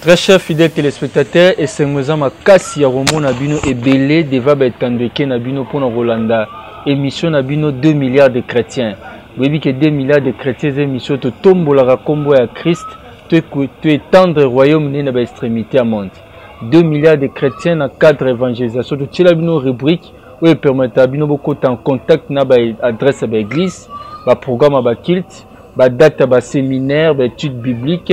Très cher fidèle téléspectateur, esengo eza makasi ya komona bino ebele deva ba etando eke na bino mpo na kolanda émission na bino 2 milliards de chrétiens. Boyebi ke 2 milliards de chrétiens eza émission totombolaka nkombo ya Christ to étendre royaume ne na ba extrémité ya monde. 2 milliards de chrétiens na cadre évangélisation totyela bino rubrique oyo epermetaka bino bokota en contact na ba adresse ya ba église, ba programme ya ba culte, ba date ya ba séminaire, ba étude biblique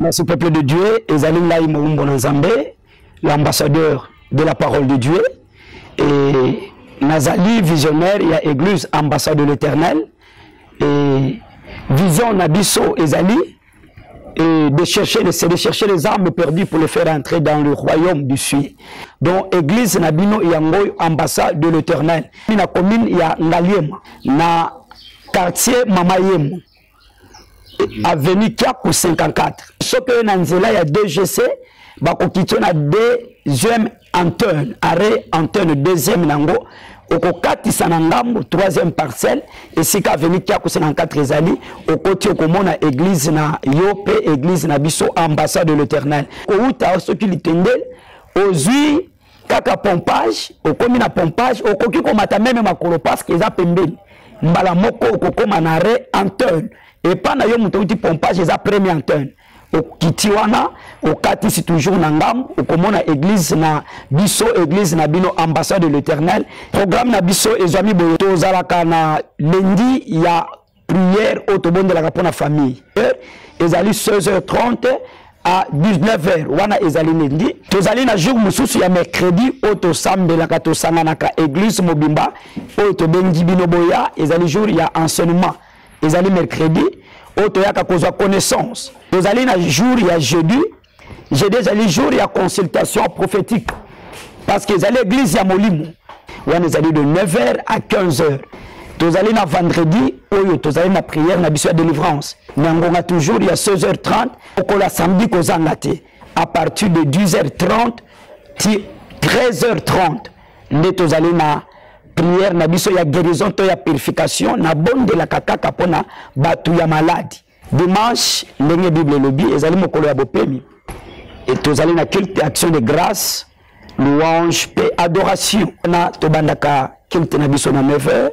Merci peuple de Dieu, ezali ngai moumbo na Nzambe, l'ambassadeur de la parole de Dieu et nazali visionnaire ya église ambassade de l'Éternel et vision na biso ezali et de chercher les, de chercher les armes perdues pour les faire entrer dans le royaume du Sud. Donc, église Nabino Yangoy, ambassade de l'éternel. La commune ya Ngaliem, na quartier Mamayem, avenue Cap 54. Ce que Nanzela ya DGC, bakokitio na deuxième Antoine, arrêt Antoine deuxième nango okokatisa na ngambo troisième parcelle esika aveni kiako 54 ezali okoti okomona église na yo mpe église na biso ambassade de l'éternel kowuta soki litendele ozwi kaka pompage okomi na pompage okoki komata meme makolo parceke eza pembeni mbala moko okokoma na re antone epai na yo moto outi pompage eza premier antone okiti wana okatisi toujours na ngambo okomona église na biso église na bino ambassade de l'éternel programme na biso ezwami boye tozalaka na lendi ya prière oyo tobondelaka mpo na famille heure ezali 16h30 à 19h wana ezali lendi tozali na jour mosusu ya mercredi oyo tosambelaka tosanganaka église mobimba oyo tobengi bino boya ezali jour ya enseignement ezali mercredi oyo toyaka kozwa connaissance tozali na jour ya jeudi jeudi ezali jour ya consultation prophétique parce que ezali église ya molimo wana ezali de 9 heures à 15 heures tozali na vendredi oyo tozali na prière na biso ya délivrance na ngonga toujours ya 16 heures 30 okola samedi kozanga te à partir de 10 heures 30 ti 13 heures 30 nde tozali na prière na biso ya guérison to ya purification na bondelaka kaka mpo na bato ya maladi dimanche ndenge bible elobi ezali mokolo ya bopemi e tozali na culte action de grâce louange mpe adoration wana tobandaka culte na biso na 9 heures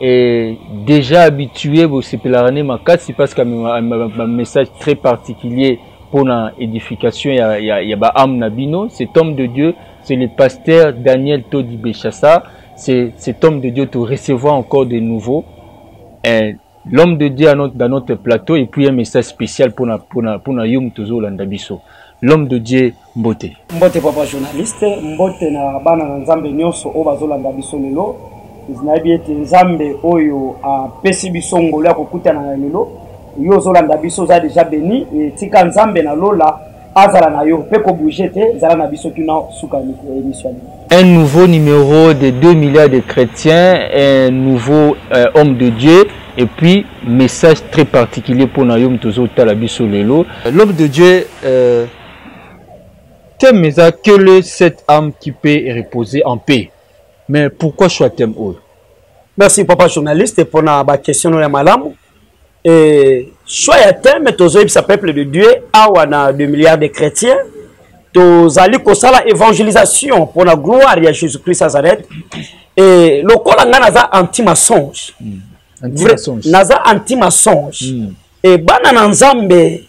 Et déjà habitué bosepelaka ne makasi parce que un message très particulier pour na édification ya, ya, ya ba âme na bino cet homme de Dieu c'est le pasteur Daniel Todi Bechassa c'est cet homme de Dieu te recevoir encore de nouveau eh, l'homme de Dieu notre, dans notre plateau et puis un message spécial pour na, pour na, pour na yum tozolanda biso l'homme de Dieu mbote mbote papa journaliste mbote na bana na nzambe nyonso oyo bazolanda biso lelo nayebi ete nzambe oyo apesi biso ngolo ya kokutana na lelo yo ozolanda biso oza deja beni etika nzambe na lola azala na yo mpe kobouge te zala na biso tuna suka emission un nouveau numéro de 2 milliards de chrétiens un nouveau euh, homme de dieu et puis message très particulier pour na yo moto ozotala biso lelo l'homme de dieu euh, thème eza que le cette âme qui peut reposer en paix mais pourquoi choix thème oyo merci papa journaliste mpona baquestion no ya malamu e choix ya thème tozoyebisa peuple de dieu awa na 2 milliards de chrétiens tozali kosala évangélisation mpona gloire ya jésus christ nazareth e lokola ngai naza anti mensonge hmm. naza anti mensonge hmm. e bana na nzambe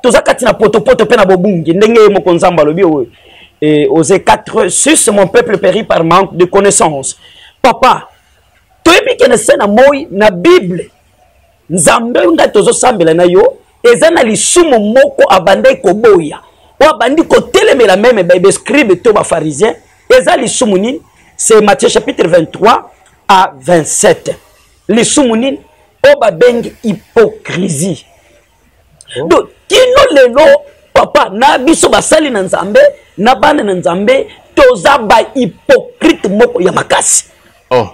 toza kati na potopoto mpe na bobungi ndenge ye moko nzambe alobi oyo e, ose 4 sus mon peuple péri par manque de connaissance papa toyebi kende se na moi na bible nzambe oyo ngai tozosambela na yo eza na lisumu moko abandaki koboya oyo abandi kotelemela meme babescribe to bafarisien eza lisumu nini c'est matthieu chapitre 23 à 27 lisumu nini oyo babengi hypocrisie oh. donc kino lelo papa na biso basali na nzambe na bana na nzambe toza bahypocrite moko ya makasi oh.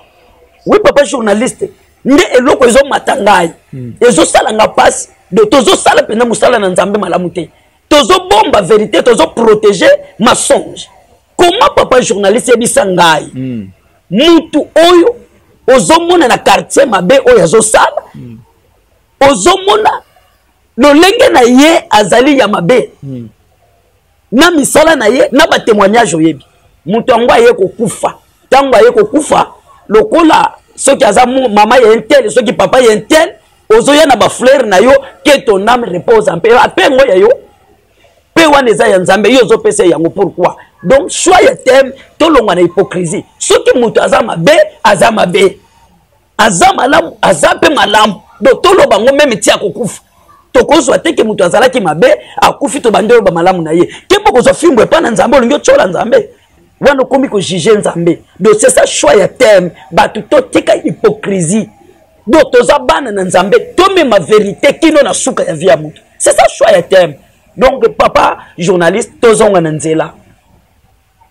wi papa journaliste nde eloko ezomata ngai hmm. ezosala nga mpasi do tozosala mpenza mosala na nzambe malamu te tozobomba verité tozoprotege masonge comment papa journaliste yebisa ngai mm. mutu oyo ozomona na quartier mabe oyo azosala mm. ozomona lolenge na ye azali ya mabe mm. na misala na ye na batemoignage oyebi moto yango aye kokufa ntango aye kokufa lokola soki aza mama ya intel soki papa ya intel ozoya na bafleur na yo ke ton ame repose mpe ape ngo ya yo mpe wana eza ya nzambe yo ozopesa yango pourquoi donc soi ya teme tolongwa na hypocrisie soki moto aza mabe aza mabe aza malamu aza mpe malamu do toloba yango meme ti akokufa tokozwa te ke moto azalaki mabe akufi tobandi oloba malamu na ye kembo kozwa fimbo epai na nzambe olingi otyola nzambe wana okomi kojuge nzambe do c'est ça choix ya teme bato totika hypocrisie do toza bana na nzambe tomema verité kino na suka ya vie ya moto c'est ça choix ya thème donc papa journaliste tozonga na nzela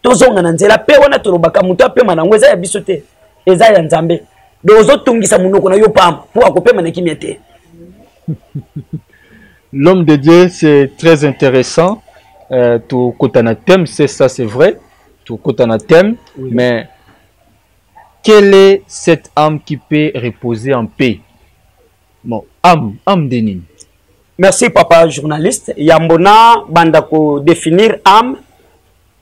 tozonga na nzela mpe wana tolobaka moto apema na yango eza ya biso te eza ya nzambe donc ozotungisa monoko na yo pamba mpo akopema na kimia te l'homme de dieu c'est très intéressant euh, tokota na thème c'est ça c'est vrai tokota na thème oui. mais quelle est cette âme qui peut reposer en paix bon am am de nini merci papa journaliste yambo na banda ko définir ame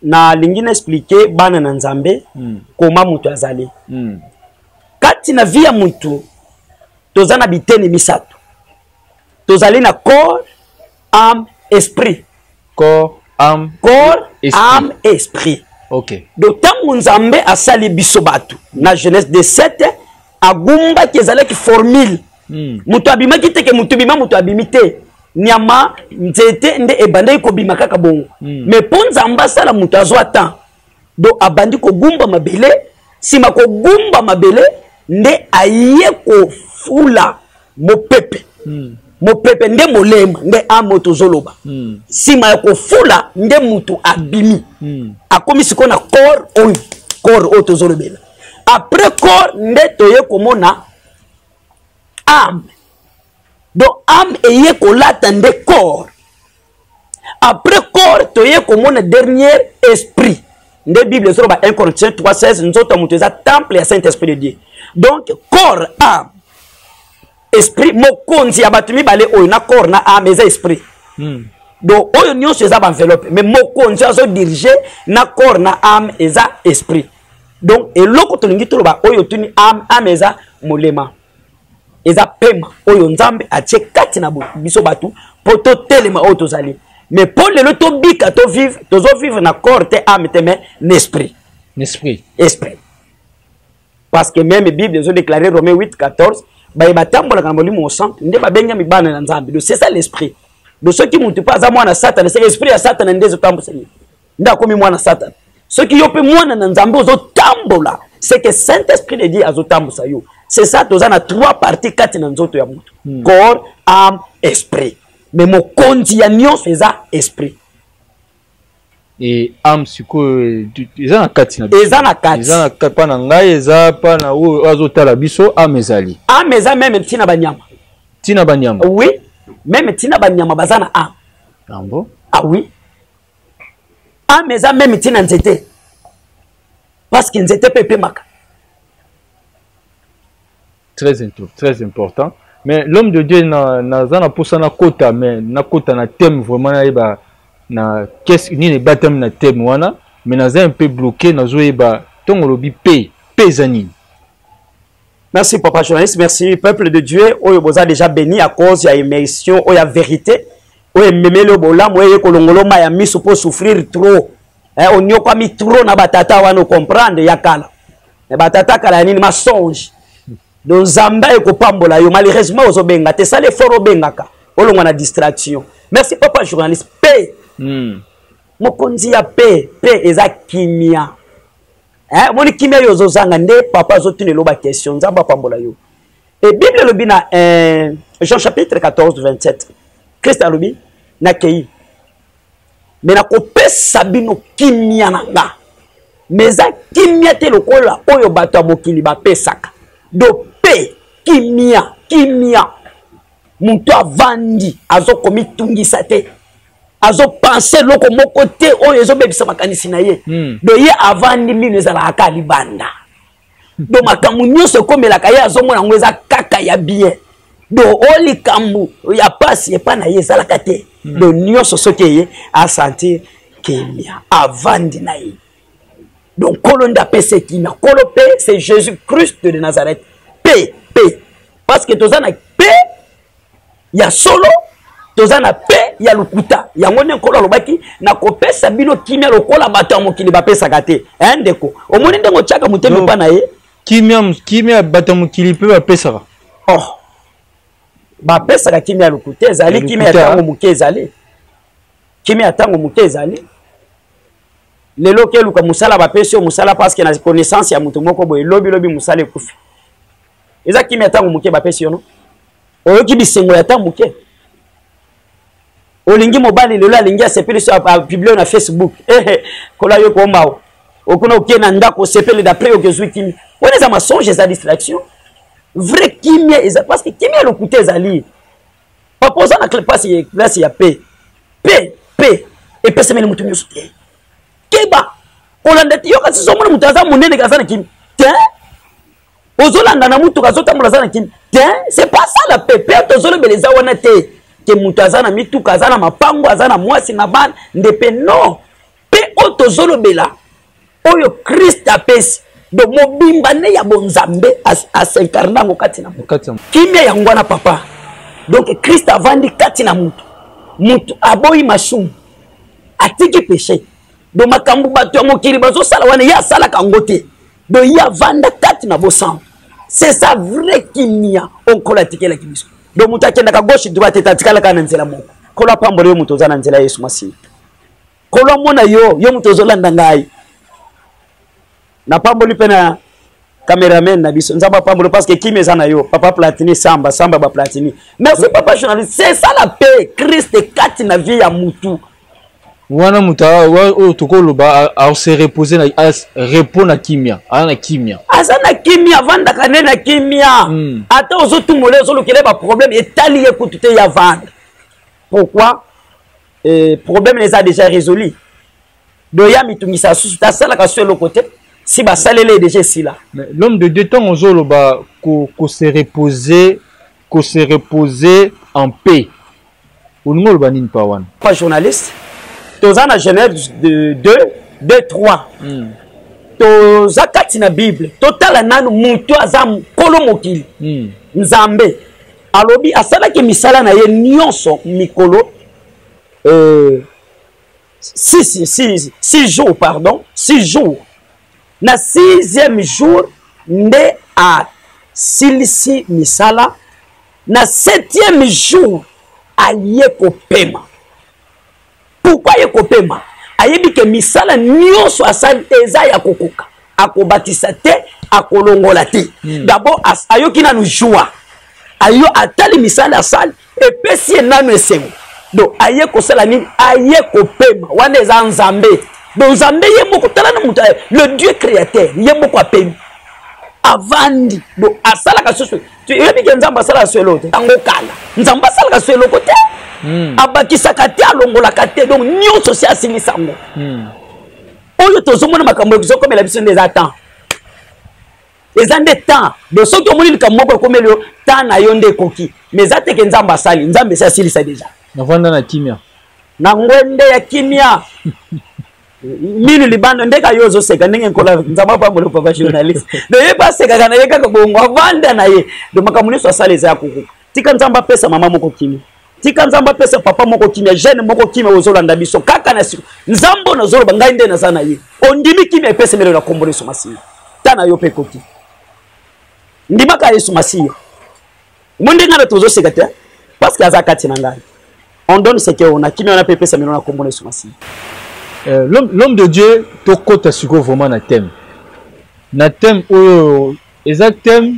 nalingi na explike bana na nzambe mm. koma moto azali mm. kati na vie ya motu toza na biteni misato tozali na corps âme esprit corps âme corps âme esprit ok donc ntango nzambe asali biso bato na jeunesse de 7 agumbaki ezalaki formule hmm. moto mm. abimaki te ke moto bima moto abimi te nyama nzete nde ebandaki kobima kaka bongo mm. mais mpo nzambe asala moto azwa temps donc abandi kogumba mabele nsima kogumba mabele nde aye kofula mopepe mm. mopepe nde molema nde amo tozoloba hmm. nsima mm. ya kofula nde motu abimi mm. akomi sikoyo na corps oyo corps oyo tozolobela après corps nde toye komona ame donc ame eye kolata nde corps après corps toye komona dernier esprit nde bible ezoloba 1 corinthiens 3 16 nzoto ya moto eza temple ya saint esprit de dieu donc corps ame esprit mokonzi ya bato mibale oyo na corps na ame eza esprit hmm. donc oyo nyonso eza baenveloppe mais mokonzi azodirige na corps na ame eza esprit donc eloko tolingi toloba oyo tuni ame ame eza molema eza pema oyo nzambe atie kati na biso bato mpo totelema oyo tozali mais mpo lelo tobika tovivre tozovivre na corps te ame te mais na esprit esprit esprit parce que meme bible ezodéclare romain 8 14 baye batambolaka na molimo mosanto nde babengami bana na nzambe donc c'est ça l'esprit donc soki motu mpe aza mwana satana se esprit ya satana nde ezotambwisa ye nde akomi mwana satana soki yo mpe mwana na nzambe ozotambola seke saint esprit de dieu azotambusa yo c'est ça toza na trois partie kati na nzoto ya moto hmm. corps ame esprit me mokonzi ya nyonso eza esprit e ame sikoyo eza na kati na eza na kati pa na ngai eza pa na oyo azotala biso ame ezali ame eza meme ntina banyama ntina banyama oui meme ntina banyama baza na ame yango ah oui ame eza meme ntina nzete parceke nzete mpe epemaka très, très important mais l'homme de dieu naza na mposa nakota mais nakota na thème vraiment nayeba na nini ebatami na thème wana mais naza un peu bloqué nazoyeba ntongo olobi p p eza nini Merci papa journaliste, merci peuple de Dieu oyo boza déjà béni à cause ya émission oyo ya vérité oyo ememeli oyo bolamu eye kolongolo ma ya miso mpo souffrir trop eh, onyokwami trop na batata wana ocomprendre ya kala eh, batata kala ya nini masonge donc nzambe ekopambola yo malheureusement ozobenga te sala effort obengaka olongwa na distraction merci papa journaliste p mm. mokonzi ya p p eza kimia eh, moni kimia yo ozozanga nde papa azotuna eloba question nzambe apambola yo e bible elobi na eh, jean chapitre 14 27 krist alobi nakei me nakopesa bino kimia na nga me eza kimia te lokola oyo bato ya mokili bapesaka dope kimia kimia moto avandi azokomitungisa te azo pense eloko moko te oyo ezobebisa makanisi na ye hmm. do ye avandi mino ezalaka kaka libanda do makambo nyonso ekomelaka ye azomona yango eza kaka ya bien do o likambo ya mpasi epai na ye ezalaka te hmm. do nyonso soki eye asentir kimia avandi na ye donc nkolo nde apesa ekimia nkolo mpe c'est jésus christ de nazareth mpe mpe parce que toza na mpe ya solo toza na pe ya lokuta yango nde nkolo alobaki nakopesa bino kimia lokola bato ya mokili bapesaka te e ndeko omoni ndenge otyaka motema epa na ye kimia kimia bato ya mokili mpe bapesaka oh bapesaka kimia ya lokuta ezali kimia ya ntango moke ezali kimia ya ntango moke ezali lelo okeluka mosala bapesi yo mosala parceke na connaissance ya moto moko boye lobilobi mosala ekufi eza kimia ya ntango moke bapesi yo no oyoki bisengo ya ta moke olingi mobali lelo alingi asepeli so apublie na facebook ehe eh, eh, kola yo komao okuna oke na ndako osepeli d'après oke ozwi kimia wana eza masonge eza distraction vrai kimia eza parce que kimia lokuta ezali papa oza na place place ya pe pe pe epesemeli moto nyonso te keba kolanda te yoka sisomona moto aza monene aza na kimia te ozolanda na motuka azotambola aza na kini te c'est pas ça la pepe tozolobela eza wana te ke moto aza na mituka aza na mapango aza na mwasi na bana nde mpe non mpe oyo tozolobela oyo krist apesi donc mobimba nde ya bonzambe asincarne yango kati na moto kimia yango wana papa donc krist avandi kati na moto moto aboyi masumu atiki peche donc makambo bato ya mokili bazosala wana ye asalaka yango te donc ye avanda kati na bosantu c'est ça vrai kimia oyo nkolo atikelaki biso donc moto akendaka gauche droite ete atikalaka na nzela moko nkolo apambola yo moto oza na nzela ya yesu masiya nkolo amona yo yo moto ozolanda ngai napamboli mpe na cameraman na biso nzambe apamboli parce que kimia eza na yo papa platini samba samba baplatini merci papa journaliste c'est ça la paix christ kati na vie ya mutu wana moto oyo tokoloba ase repose na repos na kimia aza na kimia aza na kimia avandaka nde na kimia hmm. ata ozotumola ye ozolukela baproblème etali ye kutu te ya vanda pourquoi eh, problème na eza déjà résolu doya mitungisa susu te asalaka so eloko te si basaleli ye déjà esila l'homme de dieu ntango ozoloba kose reposer ko se reposer en paix olingi oloba nini pa wana pa journaliste toza na genève de 2 de 3 mm. toza kati na bible totala nanu moto aza nkolo mokili mm. nzambe alobi asalaki misala na ye nyonso mikolo euh, six, six, six jours pardon six jours na sixième jour nde asilisi misala na septième jour aye kopema pourkui aye kopema ayebi ke misala nyonso asali eza ya kokoka akobakisa te akolongola te hmm. dabord ayoki nanu joie ayo atali misala asali epesi ye nanu esengo donc aye kosala nini aye kopema wana eza nzambe donc nzambe ye moko tala na moto le dieu créateur ye moko apemi avandi donc asalaka susu oyebi ke nzambe asalaka so eloko te yango kala nzambe asalaka so eloko te hmm. abakisaka te alongolaka te donc nyonso si asilisa yango hmm. oyo tozomona makambo ezokomela biso nde eza temps eza nde temps donc soki omoni likambo moko ekomeli yo temps na yo nde ekoki mais eza teke nzambe asali nzambe esi asilisa deja navanda na kimia na ngwende ya kimia minu libanda ndeka yo ozoseka ndenge nkola nzambe apambola papa journaliste do ye mpe asekaka na ye kaka bongo avanda na ye do makambo nyonso asala eza ya kokoka tika nzambe apesa mama moko kimi tika nzambe apesa papa moko kimia jeune moko kimia ozolanda biso kaka na siko nzambe oyo nazoloba ngai nde naza na ye ondimi kimia epesemelo na kombo na yesu masiya ta na yo mpe ekoki ndimaka yesu masiya mo nde ngai na tozoseka te parce que aza kati na ngai on donne ce que on a kimia wana mpe epesamelo na kombo na yesu masiya euh, l'homme de dieu tokota sikoyo vraiment na thème na thème oyo eza thème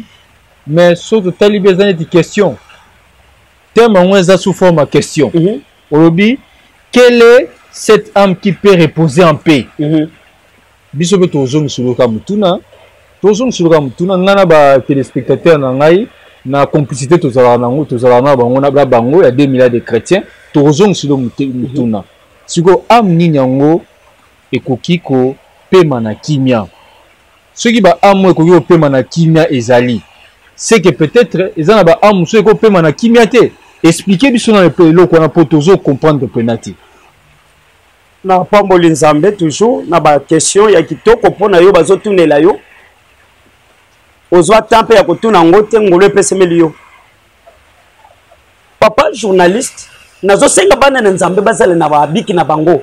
mais soki totali mpe eza neti question Thème yango eza sous forme ya question. Mm -hmm. Olobi quelle est cette âme qui peut reposer en paix? Mm -hmm. Biso mpe tozongisa loka motuna tozongisa loka motuna ngai na ba téléspectateurs na ngai na complicité tozalaka nango tozalaka na bango na bango ya 2 milliards de chrétiens tokozongisa lo motuna sikoyo âme nini yango ekoki kopema na kimia Soki ba amo ekoki kopema na kimia ezali ce que peut etre eza na ba amo mosusu ekoki kopema na kimia te explique biso na epe eloko wana po tozo comprendre pena te na pamboli nzambe toujours na ba question ya kitoko mpo na yo bazotunela yo ozwa temps mpe ya kotuna yango te ngolo epesemeli yo papa journaliste nazosenga bana na nzambe bazala na babiki na bango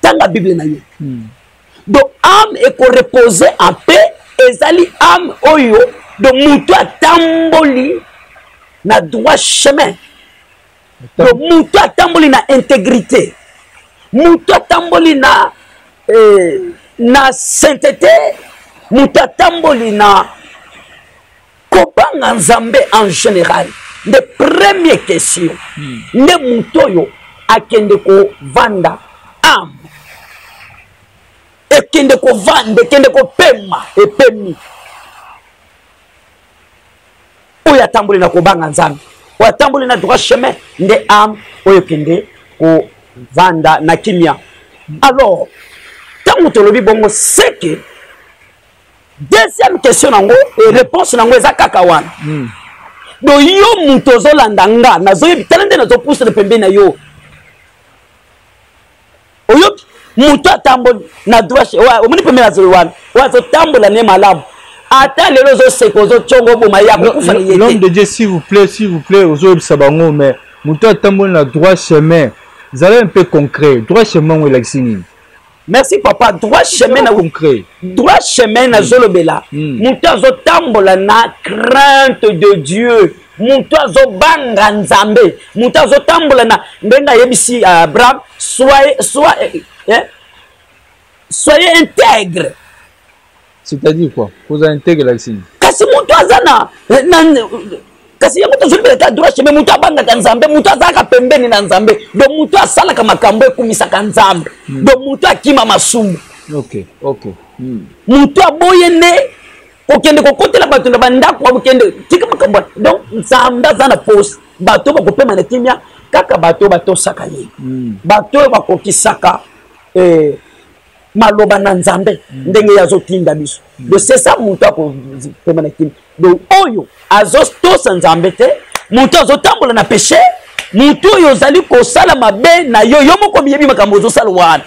tanga bible na yo hmm. donc ame ekorepose en paix ezali ame oyo donc moto atamboli na droit chemin donc moto atamboli na intégrité moto atamboli na eh, na sainteté moto atamboli na kobanga nzambe en général nde premier question hmm. nde moto oyo akende kovanda ame ekende kovanda ekende kopema epemi oyo atamboli na kobanga nzambe oyo atamboli na droit chemin nde ame oyo ekende kovanda na kimia alors ntango tolobi bongo seke deuxième question nango e réponse nango eza kaka wana hmm. do yo moto ozolanda nga nazoyebi tala nde nazopusana pembeni na yo oyoki moto atamboli na droit omoni pembeni azoi wana oyo azotambola ne malamu ata lelo ozoseka ozotyongo oboma ye akokufa na ye l'homme de dieu s'il vous plaît s'il vous plaît ozoyebisa bango mais moto atamboli na droit chemin zala mpe concret droit chemin yango elakisi nini merci papa droit chemin na concret droit chemin hmm. nazolobela hmm. moto azotambola na crainte de dieu moto azobanga nzambe moto azotambola na ndenge ayebisi euh, abraham soye soye eh, eh, soye integre c'est-à-dire quoi kozala intègre elakisi nini kasi moto aza na kasi yango tozwi leta droit chemin moto abangaka nzambe moto azalaka pembeni na nzambe donc moto asalaka makambo ekumisaka nzambe hmm. donc moto akima masumu hmm. moto aboye nde kokende kokotela bato na bandako bakokende tika makambo donc nzambe aza na pose bato bakopema na kimia kaka bato oyo batosaka ye hmm. bato oyo bakokisaka eh, maloba na nzambe mm. ndenge ye azotinda biso mm. do sesa moto akopema na kimi do oyo azotosa nzambe te moto azotambola na peshe moto oyo ozali kosala mabe na yo yo moko miyebi makambo ozosala wana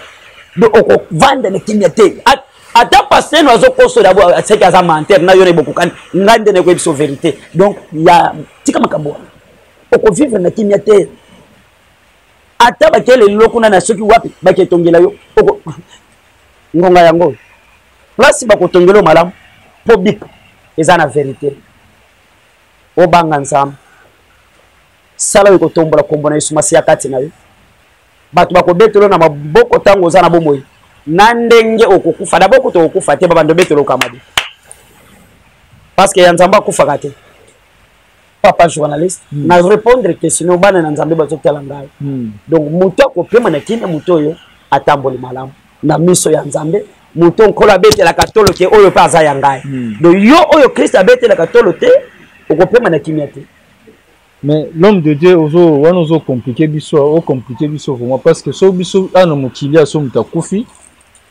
do okovanda na kimia te ata pasteur no azokosola bo aseki aza menteur na yo na bokokani ngai nde nayekoyebi so verité donc ya tika makambo wana okovivre na kimia te ata batie lelo kuna na soki wapi baketongela yo ngonga yango oyo place bakotongela yo malamu mpo bip eza na verite obanga nzambe sala oyo ekotombola nkombo na yesu masi ya kati na yo bato bakobetelo na maboko ntango oza na bomoi na ndenge okokufa dabord kutu okokufa te babanda obetelo okamadi parce que ya nzambe akufaka te papa journaliste mm. na répondre question bana na nzambe bazotala ngai mm. donc moto akopema na kini moto oyo atamboli malamu na miso ya nzambe moto nkolo abetelaka tolo te oyo mpe aza ya ngai mm. donc yo oyo kristo abetelaka tolo te okopema na kimia te mais l'homme de dieu ozo wana ozo compliqué biso o compliqué biso vraiment parce que so biso ana mokili aso moto akufi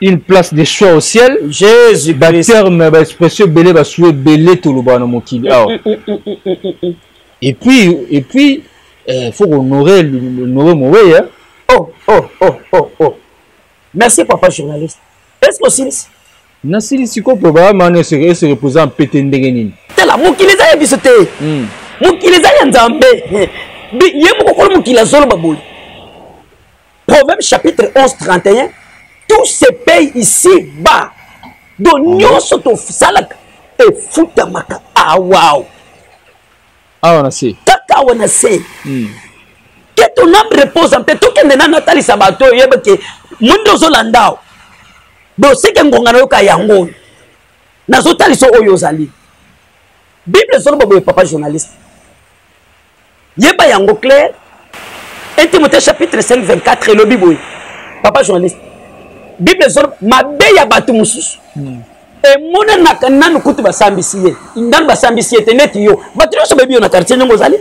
une place de choix au ciel jésus baterme baexpression ebele basue ebele tolobaka na mokili awa mm, mm, mm, et puis et puis eh, faut honorer noe moweya hein. oh oh oh oh oh merci papa journaliste est ce que osilisi nasilisi ko mpo bayamani ese reposa mpete ndenge nini tala mokili eza ya biso te mokili eza ya nzambe ye mokokolo mokili azoloba boye Proverbe chapitre 11, 31. Tout se paye ici-bas. Donc, nyonso tosalaka efutamaka awao. Ah, awa na se. Kaka awa na se. Hmm. Que ton âme repose en paix. Tokende na natalisa bato oyo yeba ke mwinda ozolanda awa. Boseke ngonga na yoka yango oyo. Nazotalisa oyo ozali. Bible ezoloba boye papa journaliste. yeba yango claire 1 timothée chapitre 5 24 elobi boye papa journaliste bible ezolo mabe ya bato mosusu hmm. emonanaka nanu kutu basambisi ye nanu basambisi ye te neti yo bato nyonso bayebi yo na quartier ndenge ozali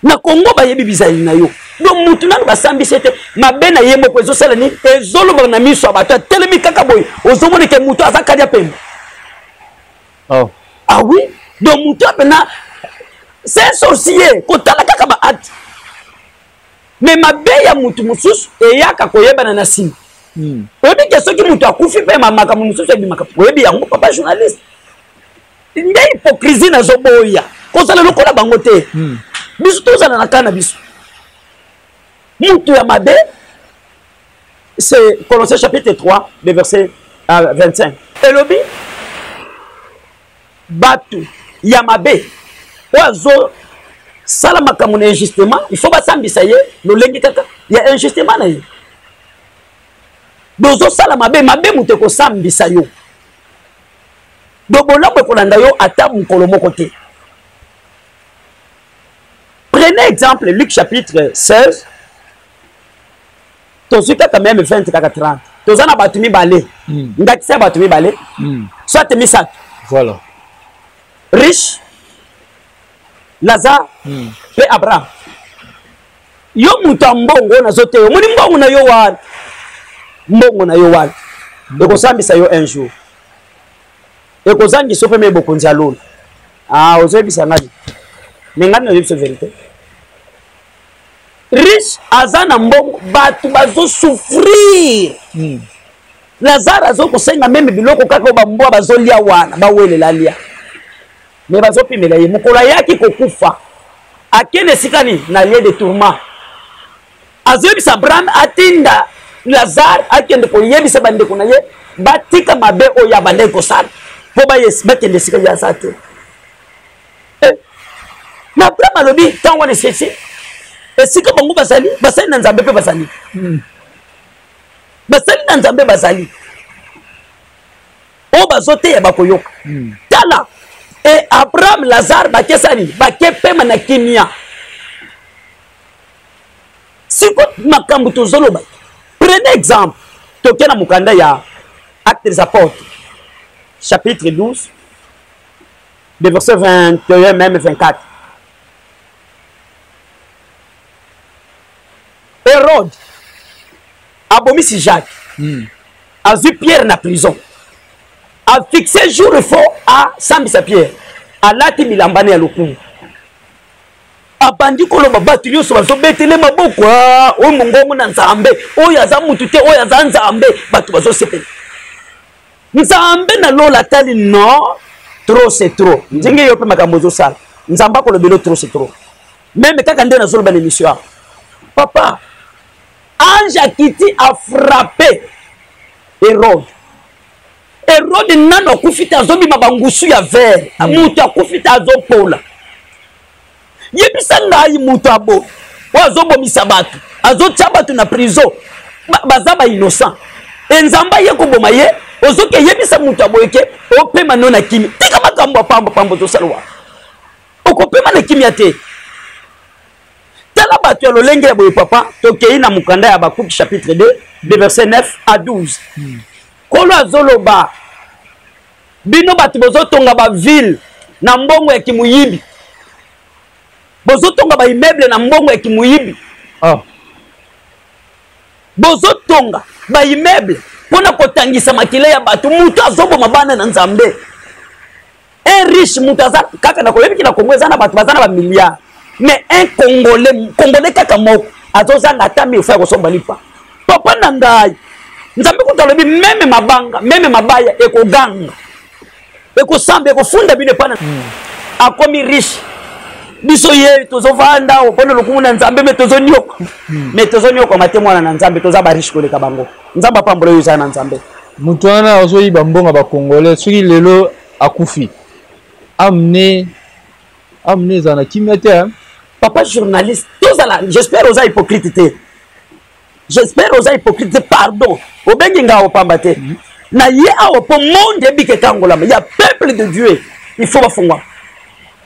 na kongo bayebi bizali na yo donc motu nanu basambisi ye te mabe na ye moko ezosala nini ezolobaka na miso ya bato atelemi kaka boye ozomona ke motu aza kadi ya pembe oh. ah oui donc moto ya mpena c'est un sorcier kotala kaka baati me mabe ya motu mosusu eyaka koyebana na nsima hmm. oyebi ke soki motu akufi mpe makambo mosusu ebimaka oyebi yango papa journaliste nde hypocrisie nazoboya kozala lokola bango te hmm. biso tozala na kaa na biso motu ya mabe C'est Colossiens chapitre 3, le verset 25. Euh, Elobi, Batu, Yamabe, Oazo, sala makambo na injustement il faut basambisa ye lolenge kaka ya injustement na ye dozosala mabe mabe moto ekosambisa yo do bolamu ekolanda yo ata mokolo moko te prenez exemple luc chapitre 16 tozwi kaka meme 20 kaka 30 toza na bato mibale mm. ndakisa ya bato mibale mm. soit misato voilà riche lazare mm. mpe abraham yo moto ya mbongo oyo nazo te omoni mbongo na yo wana mbongo na yo wana mm. ekosambisa yo un jour ekozangisa yo mpe me bokonzi ya lola ah, ozoyebisa ngani me ngani nazoyebisa verité riche aza na mbongo bato bazosouffrir mm. lazare azokosenga meme biloko kaka oyo bambwa bazolia wana bawelela lia me bazopimela ye mokolo ayaki kokufa akende esika nini na lie de tourment azoyebisa abraham atinda lazare akende koyebisa bandeko na ye batika mabe oyo abandaki kosala mpo bakende esika ye aza te eh, na abraham alobi ntango wana esese esika bango bazali basali na nzambe mpe bazali hmm. basali na nzambe bazali oyo bazoteya bakoyoka hmm. tala e abraham lazare bakesani bake pema na kimia siko makambo tozoloba prenez exemple toke na mokanda ya acte des apôtres chapitre 12 de verset 21 meme 24 herode abomisi jacques mm. azwi pierre na prison afixe jour fo asambisa pierre alati milambane ya lokumu abandi koloba bato nyonso bazobetele maboko ah, oyo mongongo na nzambe oyo aza motu te oyo aza nzambe bato bazosepela nzambe na lola atali no trop c'est trop mm. ndenge yo mpe makambo ozosala nzambe akolobelo trop c'est trop meme kaka nde nazoloba na émission awa papa ange akiti afrappe erode erode nano akufi te azobima bangusu ya vere mm. moto akufi te azopola yebisa ngai moto ya boye oyo azobomisa bato azotya bato na prison baza ba innocent e nzambe aye koboma ye ozoki eyebisa moto ya boye ke opema no na kimi tika makambo ya pamba pamba ozosala wana okopema na kimia te tala bato ya lolenge ya boye papa tokei na mokanda ya bakuki chapitre 2 de verset 9 à 12 hmm. kolo azoloba bino bato bozotonga baville na mbongo ya kimuyibi bozotonga baimmeuble na mbongo ya kimuyibi ah. bozotonga baimmeuble mpo na kotangisa makila ya bato moto azoboma bana na nzambe un riche moto aza kaka na koyebi ki na kongo eza na bato baza na bamilliard mais un congolais congolais kaka moko azozanga ata mille fois ya kosomba lipa papa na ngai nzambe kutu alobi meme mabanga meme mabaya ekoganga ekosamba ekofunda bino epai na hmm. akomi riche biso ye tozovanda awa mpona lokumu na nzambe me tozonioka me hmm. tozoniokwama te mwana na nzambe toza bariche koleka bango nzambe apambola oyo eza na nzambe moto wana azoyiba mbongo bakongolais soki lelo akufi amne amune eza na kimia te hein. papa journaliste tozala j'espère oza hypocrite te j'espère oza hypocrite te pardon obengi nga opamba te mhm. na ye awa mpo monde ebika ekangolama ya peuple de dieu il faut bafungwa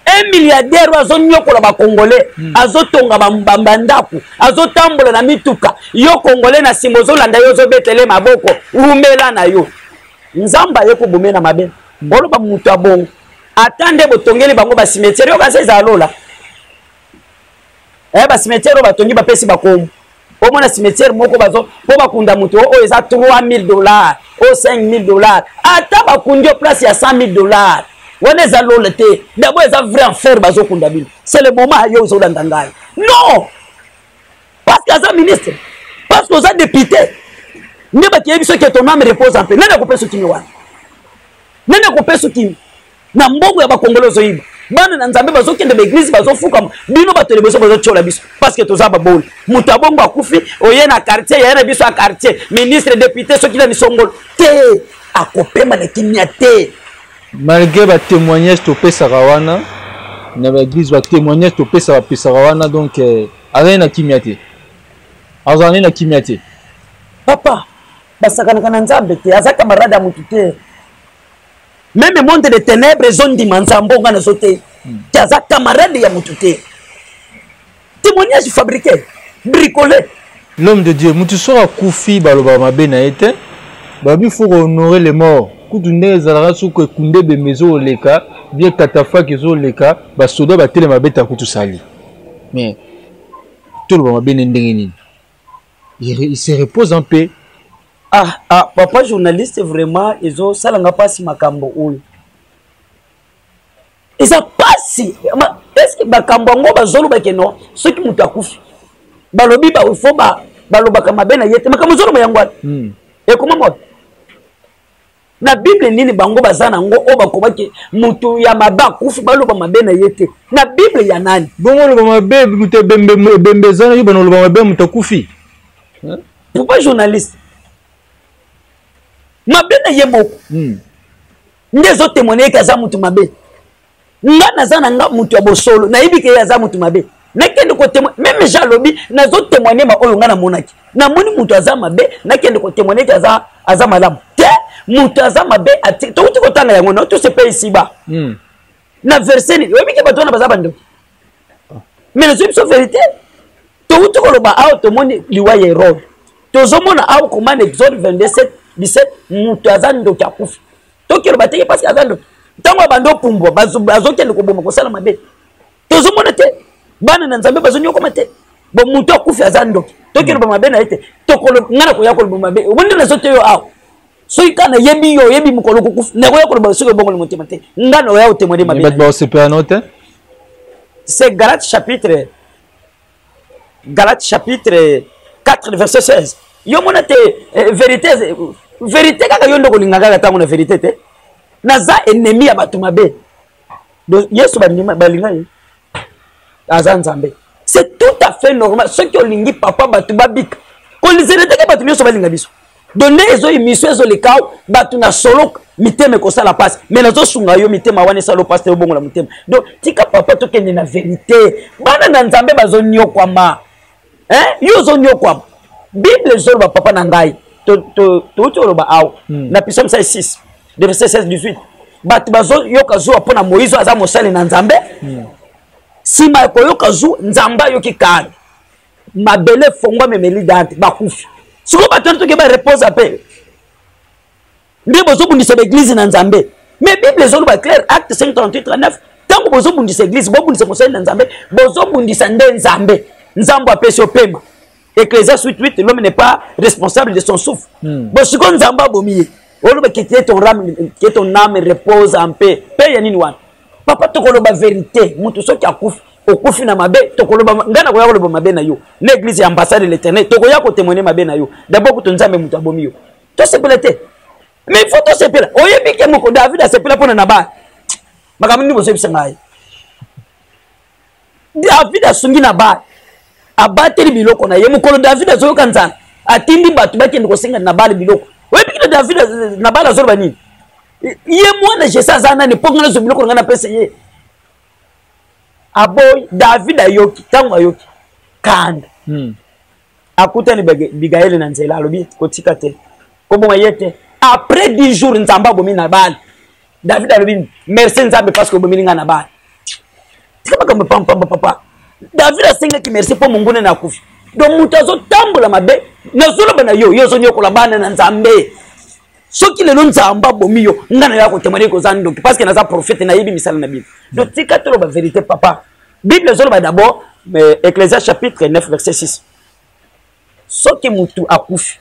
un milliardaire oyo azonyokola bacongolais hmm. azotonga bandako azotambola na mituka yo congolais na nsima ozolanda yo ozobetele maboko wumela na yo nzambe aye kobomela mabe hmm. oloba moto ya bongo ata nde botongeli bango basimetiere yo kasi ezala lola eh, basimetiere oyo batongi bapesi bakomu omona simetiere moko bazo mpo bakunda moto oyo eza 3000 dollars oyo 5000 dollars ata bakundi yo place ya 100000 dollars wana eza lola te dabo eza vrai enfer bazokunda bino c'est le moment yo ozolanda ngai non parce que aza ministre parce que oza député nde bakeye biso ke ton ame repose en paix nani akopesa okimi wana nani akopeso kimi na mbongo ya bakongolo ozoyiba bana na nzambe bazokende baeglize bazofukama bino bato ya liboso bazotyola biso parceke toza baboli moto ya bongo akufi oye na quartier yaya na biso ya quartier ministre député soki na misongolo te akopema na kimia te malgré batémoignage topesaka wana na baeglize batémoignage topesa bapesaka wana donc euh, azali na kimia te azali na kimia te papa basakanaka na nzambe te aza camarade ya motu te meme monde de ténèbre ezondima nzambe onga nazo te te aza camarade ya motu te témoignage fabriqué bricolé l'homme de dieu motu soki akufi baloba mabe na ye te babi fo kohonore le mort kutu ndenge ezalaka soki ekunda ebembe ezoleka bie katafaki ezoleka basoda batelema beta kutu sali mais toloba mabe nde ndenge nini il se repose en paix ah ah papa journaliste vraiment ezosala nga mpasi makambo oyo eza mpasi eske makambo yango bazoloba ke no soki moto akufi balobi bafo balobaka mabe na ye te makambo ozoloba yango wana hmm. ekomama na bible nini bango baza na ngo oyo bakobaki moto ya mabe akufi baloba mabe na ye te na bible ya nani bongo oloba mabe moto ebembe eza na yo bana oloba mabe moto akufi pourquoi journaliste mabe na ye moko hmm. nde ezotemoine ete aza moto mabe nga naza na nga moto ya bosolo nayebi ke ye aza moto mabe nakende kotemoigne meme jean alobi nazotemoigne ma oyo nga namonaki namoni moto aza mabe nakende kotemoigne ete aza, aza malamu te moto aza mabe touti kotanga yango no tous epai isiba mm. na verse nini oyebi ke bato wana baza bandoki ah. mais nazwi biso verité touti koloba awa tomoni liwa ya erode tozomona awa komana exode 22 17 moto aza ndoki akufi toki oloba te ye mpasi aza ndoki ntango abandi opumbwa azokende koboma kosala mabe tozomona te bana na nzambe bazonyokoma te bo moto akufi aza ndoki toki oloba mabe na ye te ngai nakoya koloba mabe omoni nde nazo te yo awa soki kaka nayebi yo oyebi mokolo kokufa nakoya koloba soki obongoli motema te ngai naoya otemwede mabe bato baosepela no te c'est galate chapitre Galates chapitre 4 verset 16 yo mona te eh, verite verite kaka yo nde okolinga kaka ntango na verite te naza ennemi ya bato mabe donc yesu balinga ye aza nzambe c'est tout à fait normal soki olingi papa bato babika kolizela teke bato nyonso balinga biso donc nde ezo emission ezo leka awa bato na solo mitema ekosala mpasi mai nazosunga yo mitema wana esala mpasi te obongola motema donc tika papa tokende na verité bana na nzambe bazonyokwama yo ozonyokwama bible ezoloba papa na ngai touti oloba awa hmm. na pisa mosali 6 de verset 16 18 bato bazoyoka zuwa mpo na moïse aza mosali na nzambe hmm. nsima ya koyoka zu nzambe ayoki kani mabele efongwami emeli dante bakufi sikoyo bato wana tokeba reposa mpe nde bozobundisa baeglize na nzambe mais bible ezoloba claire acte 538 ntango bozobundisa eglize bobundisa mosali na nzambe bozobundisa nde nzambe nzambe apesi opema ecclesia 88 l'homme n'est pas responsable de son souffle hmm. bo sikoyo nzambe abomi ye oloba ke ton âme repose en paix mpe ya nini wana papa tokoloba verite moto soki akufi okufi na mabe tokoloba ngai nakoya koloba mabe na yo na église ya ambassade de l'éternel tokoya kotemoine mabe na yo dabord kuto nzambe moto abomi yo tosepela te mais faut tosepela oyebi ke moko david asepela mpona na bana makambo nini bozoyebisa ngai david asungi na bale abateli biloko na ye mokolo david azoyoka nzala atindi bato bakende kosenga na bale biloko oyebi kino david na bale azoloba nini ye mwana jese aza nani mpo ngai nazwa biloko na ngai napesa ye aboyi david ayoki ntango ayoki kanda hmm. akutani bigaele na nzela alobi kotika te koboma ye te après 10 jours nzambe abomi na bale david alobi merci nzambe parce que obomeli ngai na bale tika makambo pampamba papa david asengaki merci mpo monguna na akufi donc moto azotambola mabe nazoloba na yo yo ozonyokola bana na nzambe soki lelo nzambe abomi yo ngai naya kotemane koza ndoki parce que naza profete nayebi misala na bino donc tika toloba verité papa bible ezoloba d'abord euh, ecclésia chapitre 9 verset 6 soki motu akufi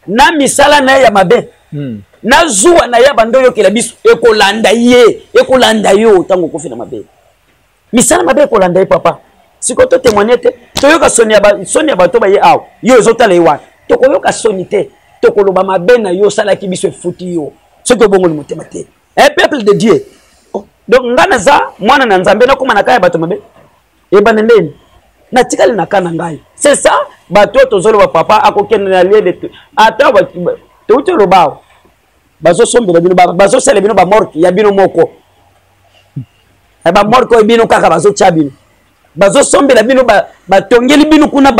na misala na ye ya mabe hmm. na zuwa na ye abanda oyokela biso ekolanda ye ekolanda yo ntango okufi na mabe misala mabe ekolanda ye papa sikoyo totemoigne te toyoka soni ya bato baye awa yo ezotala ye wana tokoyoka soni te tokoloba mabe na yo osalaki biso efuti yo soki obongoli motema te eh, peuple de dieu oh, donc ngai naza mwana na nzambe nakóma na kaa ya bato mabe ebanda ndeni natikali na kaa na ngai c'est ça bato oyo tozoloba papa akokende na lie de ata touti oloba awa bazosombela bino bazosala bino bamorke ya bino moko eh, bamorke oyo bino kaka bazotya bino bazosombela bino batongeli bino kuna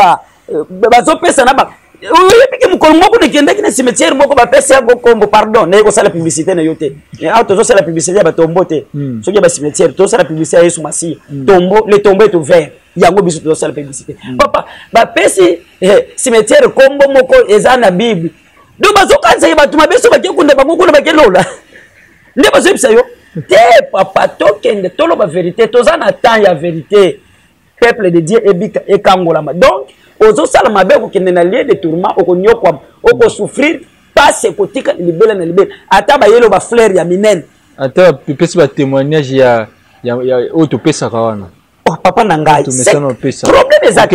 euh, bazopesa na ba oyebiki mokolo moko nakendaki na cimetière moko bapesi yango nkombo pardon naye kosala publicité na yo te awa ah, tozosala publicité ya batombo te hmm. soki ya bacimetière tozosala publicité ya yesu masiya hmm. tombo le tombo est ouvert yango biso tozosala publicité hmm. papa bapesi eh, cimetière nkombo moko eza na bible donc bazokanisa ye bato mabe so bake kunda bango kuna bake lola nde bazoyebisa yo te papa tokende toloba verité toza na temps ya verité peuple de dieu ebika ekangolama donc ozosala mabe okokende na lie de tourment okonyokwama okosouffrir pasi ekotika libela na libela ata bayelo bafleur ya minene ata epesi batémoignage ya oyo topesaka wana oh papa na ngai problème eza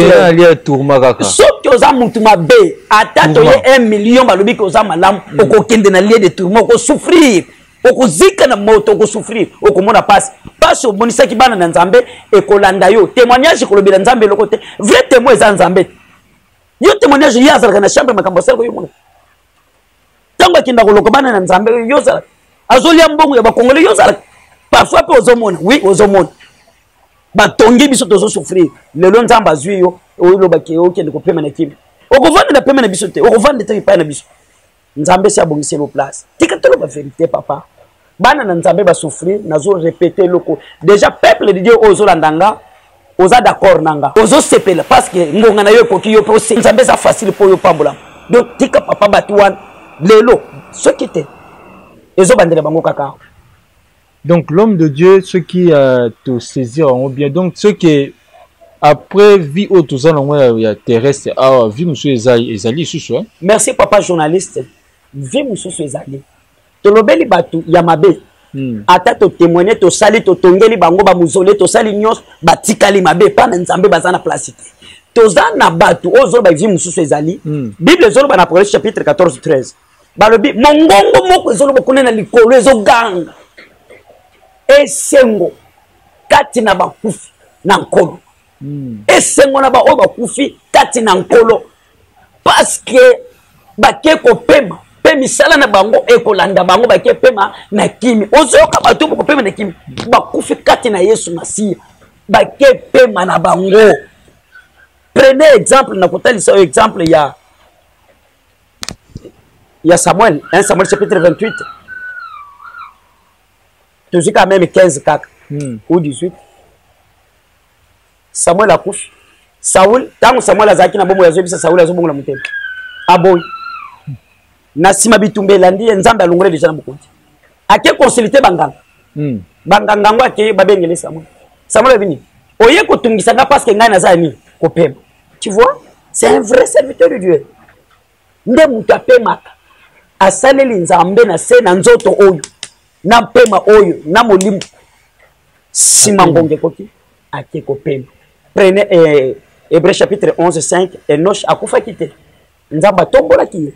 soki oza mutu mabe ata toye 1 million balobi ke oza malamu mm. okokende na lie de tourma okosouffrir okozika na moto okosouffrir okomona mpasi mpasi omonisaki bana na nzambe ekolanda yo témoignage ekolobela nzambe eloko te vrai témoin eza nzambe yo témoignage ye azalaka na chambre makambo asali koyomona ntango akenda koloka bana na nzambe yo ozala azolia mbongo ya bakongole yo ozala parfois mpe ozomona wi ozomona batongi biso tozosouffrir lelo nzambe azwi yo olobaki okende kopema na kimia okovanda na pema na biso te okovanda te epai na biso nzambe esi abongiseli o place tika toloba verité papa bana na nzambe basouffrir nazo repete eloko déjà peuple de dieu oyo ozolanda nga oza d'accord na nga ozosepela parce que ngonga na yo ekoki yo mpe ose nzambe eza facile mpo yo opambolama donc tika papa bato wana lelo soki te ezobandela bango kaka awa donc l'homme de dieu soki uh, tosaisir yango bien donc soki après vie oyo toza nango ya terrestre awa vie mosusu ezali lisusu merci papa journaliste vie mosusu ezali tolobeli bato ya mabe hmm. ata totemoigne tosali totongeli bango bamuzole tosali nyonso batikali mabe epai na nzambe baza na place te toza na bato oyo zoloba vie mosusu ezali hmm. bible ezoloba na proverbe chapitre 14 13 balobi mongongo moko ezoloba kuna na likolo ezoganga esengo kati na bakufi na nkolo hmm. esengo na baoyo bakufi kati na nkolo paske bake kopema mpe misala na bango ekolanda bango bake pema na kimi ozoyoka bato bakopema na kimi bakufi kati na yesu masiya bake pema na bango prenez exemple na kotalisa oyo exemple ya ya samuel 1 samuel chapitre 28 tozwi kaka meme 15 kaka hmm. ou 18 samuel akufi saul ntango samuel azalaki na bomoi azoyebisa saul azobongola motema aboyi na nsima bitumba elandi ye nzambe alongole deja na bokonzi ake consulte banganga hmm. banganga yango ake babengele samuel samuel abi nini oye kotungisa nga parceke ngai naza ya nini kopema tu vois c'est un vrai serviteur de dieu nde moto apemaka asaleli nzambe na se na nzoto oyo na mpema oyo na molimo nsima ngonga ekoki ake kopema prene eh, hébreu chapitre 11 5 enosh akufaki te nzambe atombolaki ye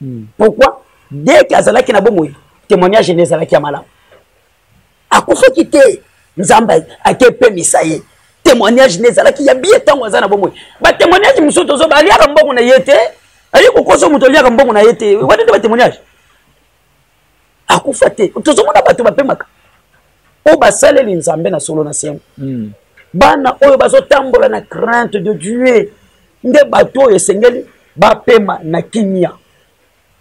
hmm. pourquoi deke azalaki na bomoi témoignage ene ezalaki ya malamu akufaki te nzambe akepemisa ye témoignage ne ezalaki ya biye ntango aza na bomoi batémoignage mosusu tozoba aliaka mbongo na ye te aye kokosa moto aliaka mbongo na ye te wana nde batémoignage akufa te tozomona bato bapemaka oyo basaleli nzambe na solo na sembo hmm. bana oyo bazotambola na crainte de dieu nde bato oyo esengeli bapema na kimia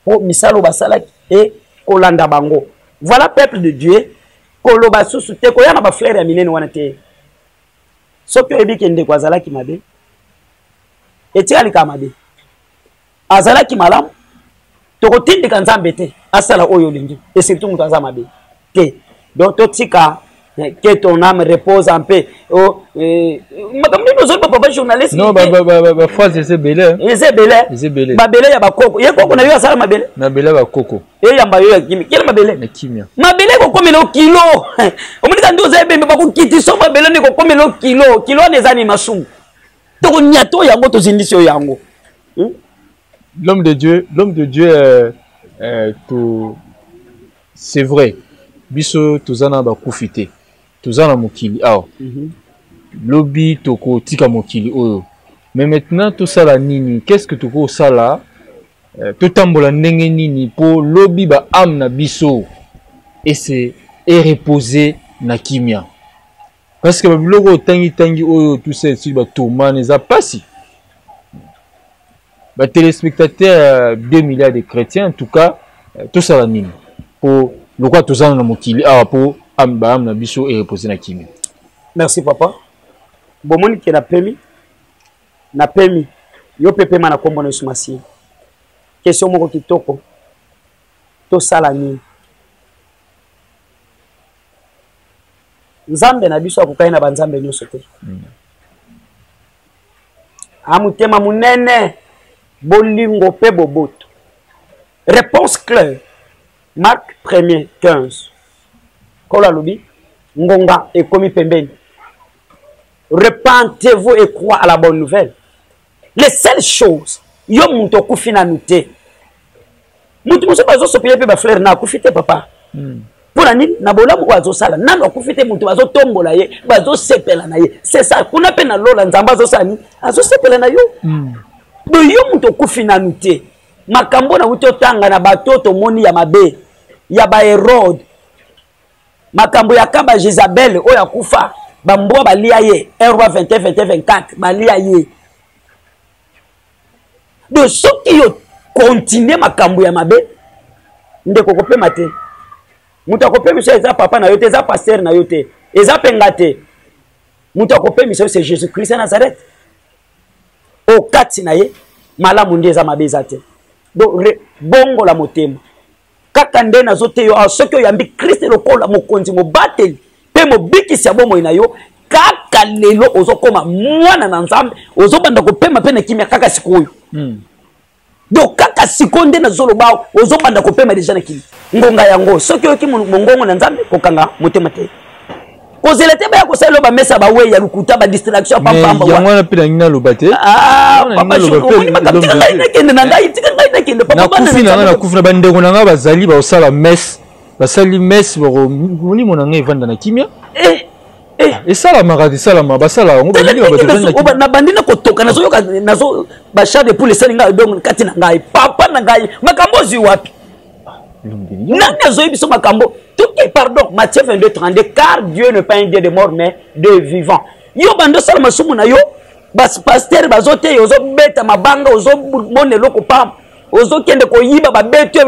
mpo misala oyo basalaki e kolanda bango voilà peuple de dieu koloba susu te koya na baflere ya minene wana te soki oyebi ke ndeko azalaki mabe etikali kaka mabe azalaki malamu tokotindika nzambe te asala oyo olingi e surtout moto aza mabe te donc totika eh, que ton âme repose en paix oh, eh, makambo nini ozoi bapapa journaliste non bafrase eza ebele eza ebele mabele ya bakoko ye koko na yo asala mabele mabele ya bakoko eyamba yo ya kimia kela mabele ya kimia mabele ekokomela okilo omonika nde oza ebembe bakokitiso mabele nde ekokomela okilo kilo wana eza ni masumu toko nyato yango tozindisi yo yango hmm? l'homme de dieu l'homme de dieu euh, euh, to c'est vrai biso toza na bakufi te toza na mokili awa mm -hmm. lobi tokotika mokili oyo mais maintenant tosala nini qu'est ce que tokosala euh, totambola ndenge nini mpo lobi ba ame na biso ese ereposer na kimia parce que babiloko oyo tangitangi oyo tout ça esili batomane eza mpasi batelespectateur ya 2 milliards de chrétiens en tout cas euh, tosala nini mpo lokola tozana na mokili awa mpo baame na biso erepose na kimia merci papa bomoni ke napemi napemi yo mpe pema na nkombo na yesu masiya kestion moko kitoko tosala nini nzambe na biso akokani na banzambe nyonso te mm. amotema monene bolingo mpe boboto réponse claire mark premier 15 kolo alobi ngonga ekomi pembeni repentez-vous et crois à la bonne nouvelle le seul chose yo moto okufi nanu te moto mosusu bazosopele mpe bafleur na akufi te papa mm. mpo na nini na bolamu oyo azosala nanu akufi te moto bazotombola ye bazosepela na ye sesa kuna mpe na lola nzambe azosala nini azosepela na yo mm. do yo moto okufi nanu te makambo na wuti otanga na bato tomoni ya mabe ya baherode makambo ya kaba jezabele oyo akufa bambwa balia ye 1 roi 21 21 24 balia ye donc soki yo continue makambo ya mabe ndeko kopema te moto akopemisa eza papa na yo te eza paster na yo te eza mpe nga te moto akopemisa yo se jésus christ ya nazareth okati na ye malamu nde eza mabe eza te donc bongola motema kaka nde nazote yo awa soki oyambi kriste lokola mokonzi mobateli mpe mobikisi ya bomoi na yo kaka lelo ozokoma mwana na nzambe ozobanda kopema mpe na kimia kaka sikoyo mm. donc kaka sikoyo nde nazoloba ozobanda kopema deja na kimia ngonga yango soki oyoki mongongo na nzambe kokanga motema te kozela te baya kosala loba mesa bawei ya lokuta badistraction ya pampamba yango wana mpe nangi naloba te ah, ngai nakende na ngai tika ngai nakende nakufi na ngai nakufi na bandeko na ngai bazali bakosala mese basali mese molimo na ngai evanda na kimia eh, eh. ah, esalamaka te esalama basalaka yango nabandi na kotoka nazoyoka nazo bachar de poule esali ngai donc kati na ngai papa na ngai makambo ozwi wapi nani azoyi biso makambo toke pardon matthieu 22 32 car dieu ne pas un dieu de mort mais de vivant yo bando osala masumu na yo bapaster bazoteya ozobeta mabanga ozomona eloko pamba ozokende koyiba babeto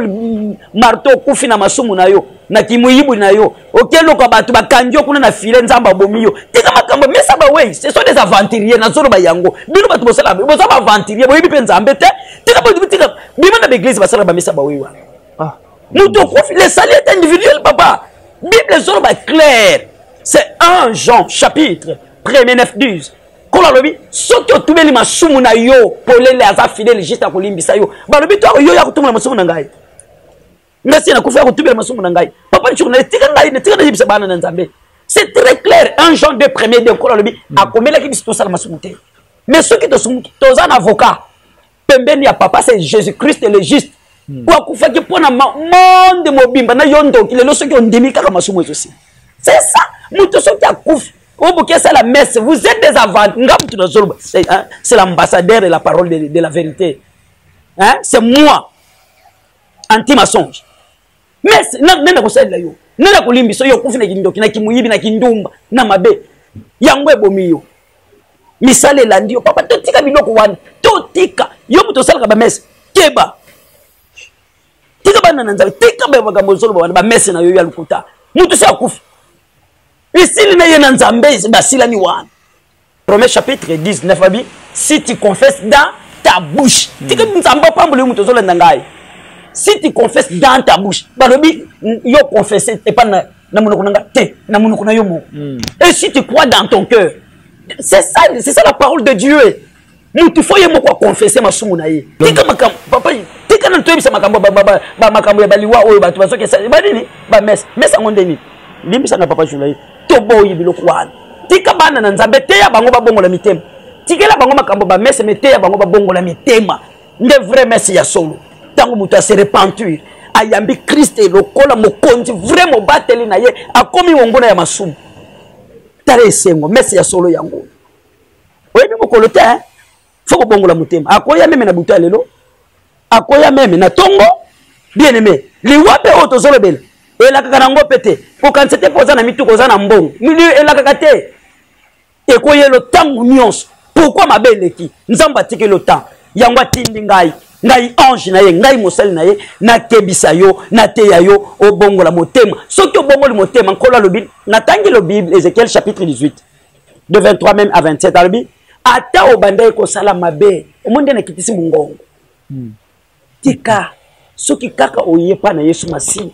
marto okufi na masumu na yo na kimoyibwi na yo okeloka bato bakangi yo kuna na file nzambe abomi yo tika makambo mesa bawei ce sont des aventurier nazoloba yango bino bato bosala boza baaventurier boyebi mpe nzambe te tika botika bima na baeglise basala bamesa bawei wana ah. moto okufi le sali est individuel papa bible ezoloba claire c'est 1 jean chapitre premier 9 12 nkolo alobi soki otumeli masumu na yo polele aza fidele juste akolimbisa yo balobi to yo ya kotumela masumu na ngai nga si nakufa ya kotubela masumu na ngai papa nsoko na etika ngai netika nayebisa bana na nzambe c'est très clair un jean de premier de nkolo alobi mm. akomelaki biso tosala masumu te mais soki tosumuki toza na avocat pembeni ya papa c'est jésus christ le juste mm. po akufaki mpo na monde mobimba na yo ndoki lelo soki ondimi kaka masumu ezosi c'est ça moto soki akufi oboki asala messe vous êtes des avant nga moto nazoloba c'est l'ambassadeur et la parole de, de la vérité hein? c'est moi anti mensonge mais nani akosalela yo nani akolimbisa yo okufi na kindoki na kimoyibi na kindumba na mabe yango ebomi yo misala elandi yo papa totika biloko wana totika yo moto osalaka bamese keba tika bana na nzambe tika baye makambo ozoloba wana bamese na yo ya lokuta moto si akufi esili na ye na nzambe basilani wana Romains chapitre 19 babi si tu confesses dans ta bouche hmm. tika nzambe apamboli yo moto ozolanda ngai si tu confesses dans ta bouche balobi yo confesse epa na, na monoko na nga te na monoko na yo moko hmm. et si tu crois dans ton cœur c'est ça, c'est ça la parole de dieu mutu fo ye moko akonfese masumu na ye tika makambo papa tika nanu toyebisa makambo makambo ya baliwa oyo bato bazokesa banini bamesa mesa yango nde nini limbisa na papa journaliste toboyi biloko wana tika bana na nzambe teya bango babongola mitema tikela bango makambo bamesa me teya bango babongola mitema nde vrai mese ya solo ntango moto ase repentir ayambi kriste lokola mokonzi vrai mobateli na ye akomi monguna ya masumu tala esengo mese ya solo yango oyebi mokolo te hein? fo kobongola motema akoya meme na butu ya lelo akoya meme na ntongo bien aime liwa mpe oyo tozolobela elakaka na yango mpe te kokanisa te mpo oza na mituka oza na mbongo elakaka te ekoyelo ntango nyonso pourkui mabe eleki nzambe atikeli otango yango atindi ngai ngai ange na ye ngai mosali na ye nakebisa yo nateya yo obongola motema soki obongoli motema nkolo alobi natangi lo bible ezekiel chapitre 18 de 23 meme à 27 alobi ata obandaki kosala mabe omoni nde nakitisi mongongo hmm. tika soki kaka oye mpa na yesu masiya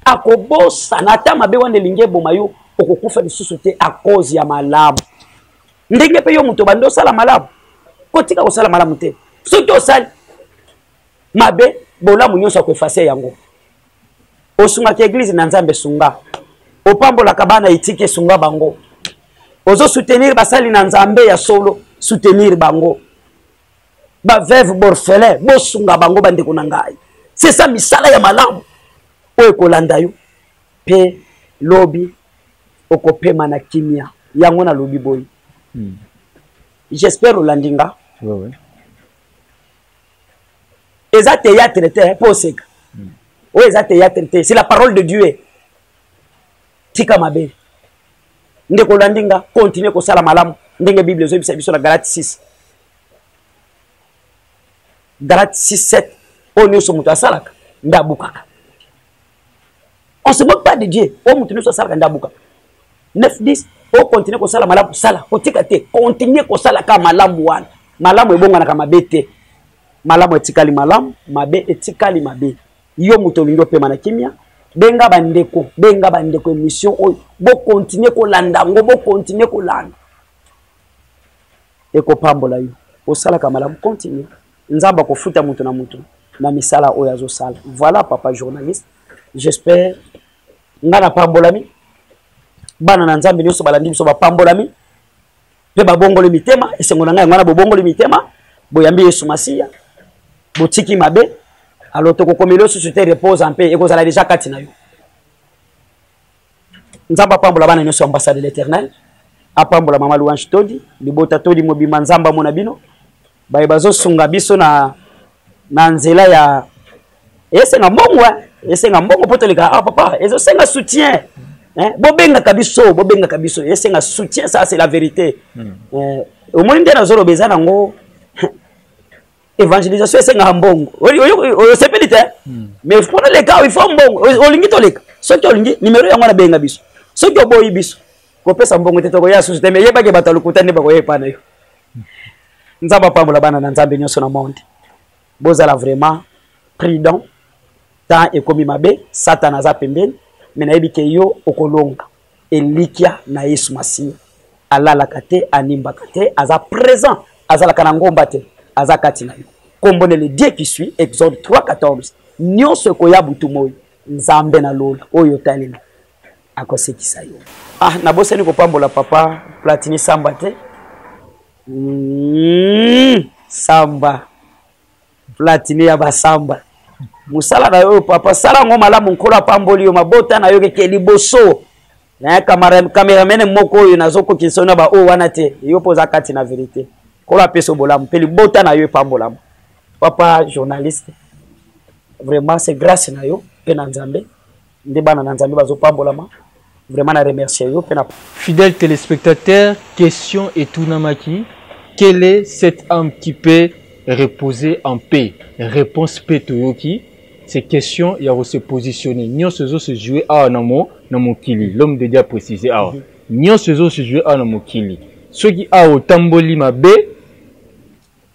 akobosana ata mabe wana elingi eboma yo okokufa lisusu te a cause ya malamu ndenge mpe yo moto obandi osala malamu kotika kosala malamu te soki osali mabe bolamu nyonso akoefase yango osungaka eglise na nzambe sunga opambolaka bana etike sunga bango ozo soutenir basali na nzambe ya solo soutenir bango baveuve borfelin bosunga bango bandeko na ngai sesa misala ya malamu oyo ekolanda yo mpe lobi okopema na kimia yango nalobi boye hmm. j'espère olandi nga oui, oui. eza théâtre te mpo oseka oyo eza théâtre te c'est la parole de dieu tika mabe ndeko olandi nga continue kosala malamu ndenge bible ezoyebisa biso na galate 6 galate 6 7 oyo nyonso moto asalaka nde abukaka on se moque pas de dieu oyo moto nyonso asalaka nde abuka 9 10 okontinue kosala malamu sala kotika te kontinue kosalaka malamu wana malamu ebonganaka mabe te malamu etikali malamu mabe etikali mabe yo moto olingi opema na kimia benga bandeko benga bandeko émission oyo bokontinue kolanda yango bokontinue kolanda ekopambola yo osalaka malamu continue Nzambe akofuta moto na moto na misala oyo azosala. Voilà papa journaliste. J'espère nga na pambolami. Bana na Nzambe nyoso balandi biso bapambolami pe babongoli mitema esengo na ngai yango wana bobongoli mitema boyambi Yesu Masiya botiki mabe alors tokokomela osusu te repose mpe ekozala deja kati na yo nzambe apambola bana nyonso ya ambassade de l'éternel apambola mama louange todi libota todi mobimba nzambe amona bino baye bazosunga biso na, na nzela ya esenga mbongo eh? esenga mbongo mpo toleka ah, papa ezosenga soutien eh? bobengaka biso bobengaka biso esenga soutien ça c'est la vérité hmm. eh, omoni nde nazoloba eza nango evangelisation esengaka mbongo osepeli te hmm. mais mpona leka il faut mbongo olingi toleka soki olingi nimero yango nabenga biso soki oboyi biso kopesa mbongo te tokoya susu te me yebaki bato ya lokuta nde bakoya epa na yo nzambe apambola bana na nzambe nyonso na monde bozala vraiment prudent temps ekomi mabe satana aza pembeni me nayebi ke yo okolonga elikya na yesu masiya alalaka te animbaka te aza présent azalaka na ngomba te aza kati na yo nkombo na ledie qui suit exode 3 14 nyonso ekoya butu moi nzambe na lola oyo otaleli akosekisa yo ah nabosani kopambola papa platini samba te mm, samba platini ya basamba mosala na yo papa sala yango malamu nkolo apamboli yo mabota na yo keke liboso na kameramene moko oyo nazokokisa yo na baoyo wana te yo mpo oza kati na verite nkolo apesa yo bolamu mpe libota na yo epambolama papa journaliste vraiment c'est grâce na yo mpe na nzambe nde bana na nzambe bazopambolama vraiment na remercie yo mpe na fidèle téléspectateur question etunamaki quelle est cette âme qui peut reposer en paix réponse mpe toyoki c'est question ya kose positionner nyonso ezo se joue awa na mo na mokili l'homme de dia précise awa mhm. nyonso ezo se joue awa na mokili soki awa otamboli mabe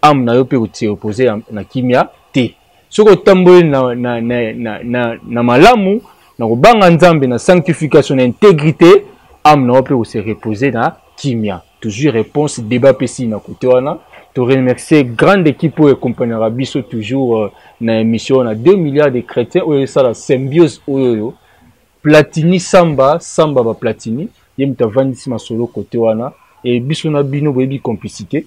ame na yo mpe koseopose na kimia te soki otamboli na, na, na, na, na, na malamu na kobanga nzambe na sanctification na intégrité ame na yo mpe koserepose na kimia toujours réponse débat mpe sii na kote wana to remercier grande équipe oyo ekompanaka biso toujours euh, na émission wana 2 milliards de chrétiens oyo esala symbiose oyo oyo platini samba samba baplatini ye moto avandisi masolo kote wana e biso na bino boyebi complicité